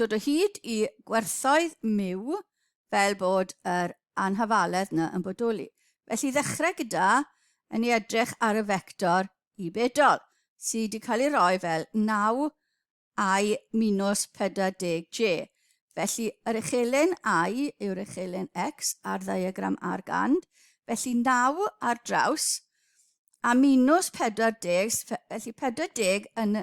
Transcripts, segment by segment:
Dod o hyd i gwerthoedd myw fel bod yr anhafaledd 'na yn bodoli. Felly ddechrau gyda yn ei edrych ar y fector i bedol, sy 'di cael ei roi fel 9 i minws 40 J. Felly yr uchelen I yw'r uchelen X ar ddiagram ar gand, felly 9 ar draws a minws 40, felly 40 yn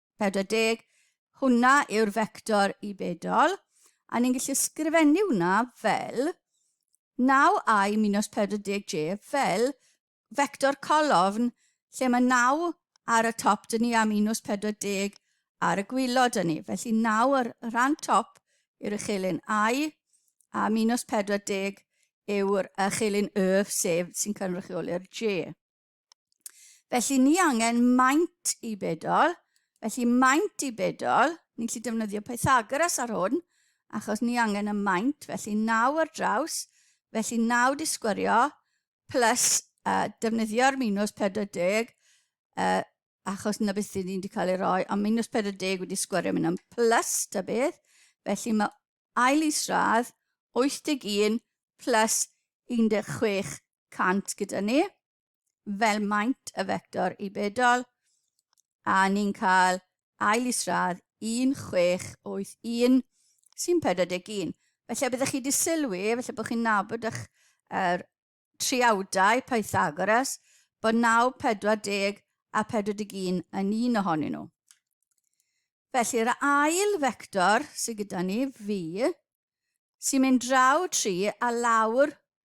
40, hwnna yw'r fector i bedol, a ni'n gallu sgrifennu hwnna fel 9i minus 40j fel fector colofn lle mae 9 ar y top dyn ni a minus 40 ar y gwylod dyn ni. Felly 9 ar y rhan top yw'r uchelyn i a minus 40 yw'r uchelyn y sef sy'n cynrychioli'r j. Felly ni angen maint i bedol, felly maint i bedol, ni'n gallu defnyddio Pythagoras ar hwn, achos ni angen y maint, felly 9 ar draws, felly 9 di sgwyrio, plus uh, defnyddio'r minus 40, uh, achos na beth dyn ni wedi cael ei roi, ond minus 40 wedi sgwyrio mynd am plus ta beth, felly mae ail isradd 81 plus 16 cant gyda ni, fel maint y fector i bedol, a ni'n cael ail isradd 1681 sy'n 41. Felly, byddwch chi wedi sylwi, felly bod chi'n nabod eich er, triawdau Pythagoras, bod 9, 40 a 41 yn un ohonyn nhw. Felly, yr ail fector sydd gyda ni, fi, sy'n mynd draw 3 a lawr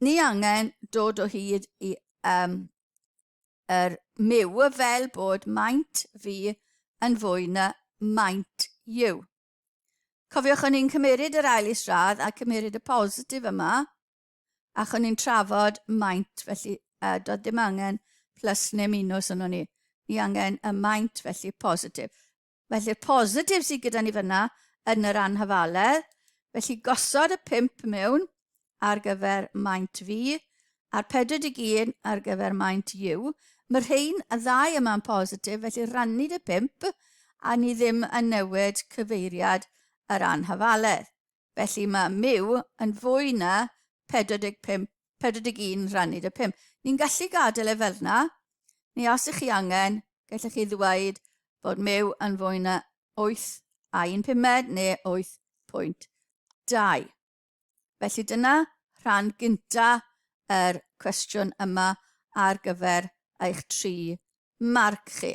ni angen dod o hyd i um, yr myw fel bod maint fi yn fwy na maint yw. Cofiwch o'n i'n cymeryd yr ail isradd a cymeryd y positif yma, ac o'n i'n trafod maint, felly uh, doedd dim angen plus neu minus yno ni. Ni angen y maint, felly positif. Felly'r positif sydd gyda ni fyna yn yr anhafaledd, felly gosod y 5 mewn ar gyfer maint fi, a'r 41 ar gyfer maint u. Mae rhain y ddau yma'n positif, felly rannu dy 5 a ni ddim yn newid cyfeiriad yr anhafaledd. Felly mae mu yn fwy na 45, 41 rhannyd y 5. Ni'n gallu gadael e fel yna, neu os ych chi angen, gallech chi ddweud bod mu yn fwy na 8 a 1 pumed neu 8.2. Felly dyna rhan gynta yr cwestiwn yma ar gyfer eich tri marc chi.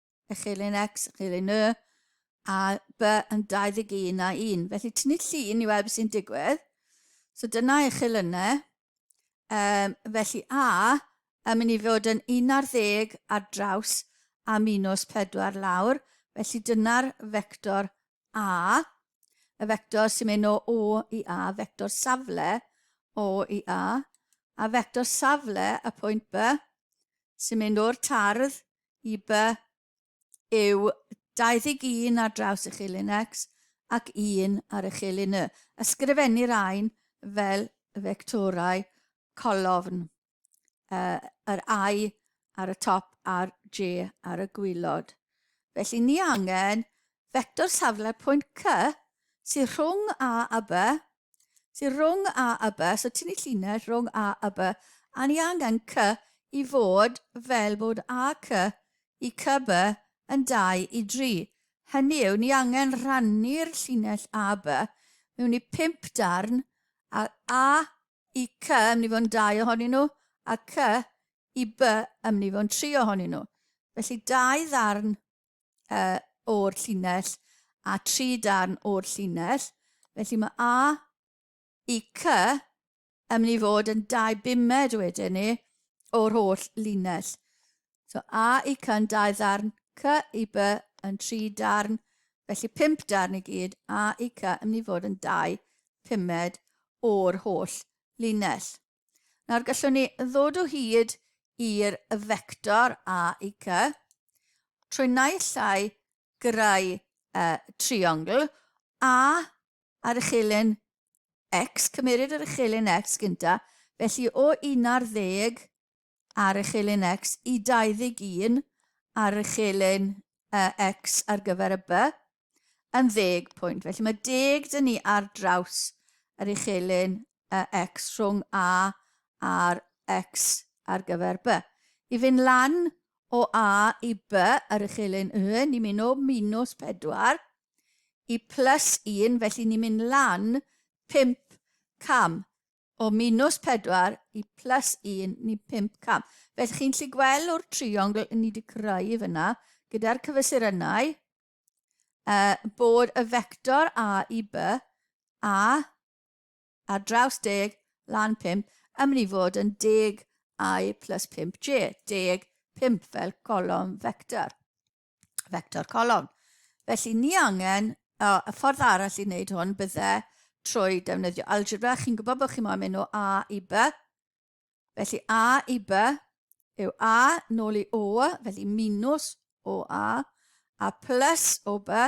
y chelyn X, y chelyn Y, a B yn 21 a 1. Felly tynnu llun i weld beth sy'n digwydd. So dyna eich chelynau. Um, felly A yn mynd i fod yn 11 ar draws a minus 4 lawr. Felly dyna'r vector A. Y vector sy'n mynd o O i A, vector safle O i A. A vector safle y pwynt B sy'n mynd o'r tardd i By yw 21 ar draws y chelyn X ac 1 ar y chelyn Y. Ysgrifennir ain fel fectorau colofn, uh, yr I ar y top a'r J ar y gwylod. Felly ni angen fector safle'r pwynt C sydd rhwng A a B Sy'n rhwng a y by, so ti'n ei llinell rhwng a y by, a ni angen cy i fod fel bod a cy i cy by yn 2 i 3. Hynny yw, ni angen rhannu'r llinell a by mewn i 5 darn, a a i cy yn mynd i fod yn 2 ohonyn nhw, a cy i by yn mynd i fod yn 3 ohonyn nhw. Felly, dau ddarn uh, o'r llinell a tri darn o'r llinell. Felly mae A i C yn mynd i fod yn dau bumed wedyn ni o'r holl linell. So A i C yn dau ddarn, C i B yn tri darn, felly pimp darn i gyd, A i C yn mynd i fod yn dau pumed o'r holl linell. Nawr gallwn ni ddod o hyd i'r vector a i c trwy naill llai greu uh, triongl a ar y chelyn x, cymeryd yr chelyn x gynta, felly o 11 ar y chelyn X i 21 ar y chelyn uh, X ar gyfer y by yn ddeg pwynt. Felly mae deg dyn ni ar draws yr uchelyn uh, X rhwng A a'r X ar gyfer by. I fynd lan o A i by yr uchelyn Y, ni'n mynd o minus 4 i plus 1, felly ni'n mynd lan 5 cam. o minus 4 i plus 1 ni 5 cam. Felly chi'n lli gweld o'r triongl ni wedi creu fyna gyda'r cyfesurynnau uh, bod y vector A i B a ar draws deg lan 5 yn mynd i fod yn deg I plus 5J, deg 5 fel colofn vector. vector colofn. Felly ni angen, o, y ffordd arall i wneud hwn bydde trwy defnyddio algebra. Chi'n gwybod bod chi'n moyn mynd o A i B. Felly A i B yw A nôl i O, felly minus o A, a plus o B,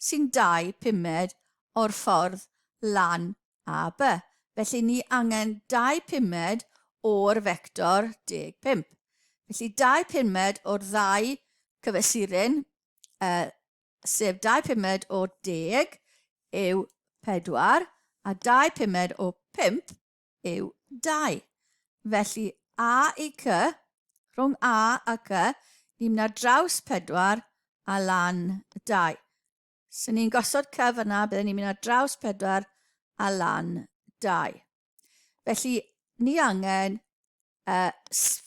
sy'n dau pumed o'r ffordd lan a by, felly ni angen dau pumed o'r fector deg pump. Felly dau pumed o'r ddau cyfesurin, uh, sef dau pumed o deg yw pedwar, a dau pumed o pump yw dau. Felly a i cy, rhwng a a cy, ni'n mynd ar draws pedwar a lan dau. So ni'n gosod cy fyna, byddwn ni'n mynd ar draws pedwar a lan dau. Felly ni angen uh,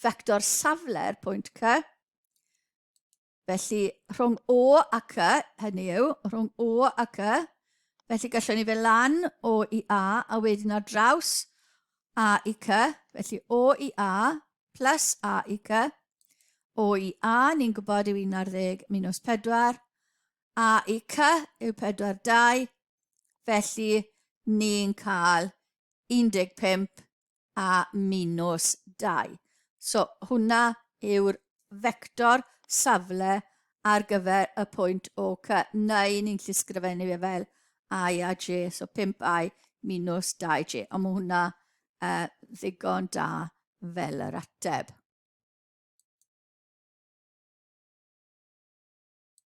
vector safle'r pwynt cy, Felly, rhwng O ac Y, hynny yw, rhwng O ac Y, felly gallwn ni fe lan O i A, a wedyn ar draws A i C, felly O i A, plus A i C, O i A, ni'n gwybod yw 11 minus 4, A i C yw 42, felly ni'n cael 15 a minws 2. So, hwnna yw'r fector safle ar gyfer y pwynt o C, neu ni'n llysgrifennu fe fel i a j, so 5i minws 2j. Ond mae hwnna uh, ddigon da fel yr ateb.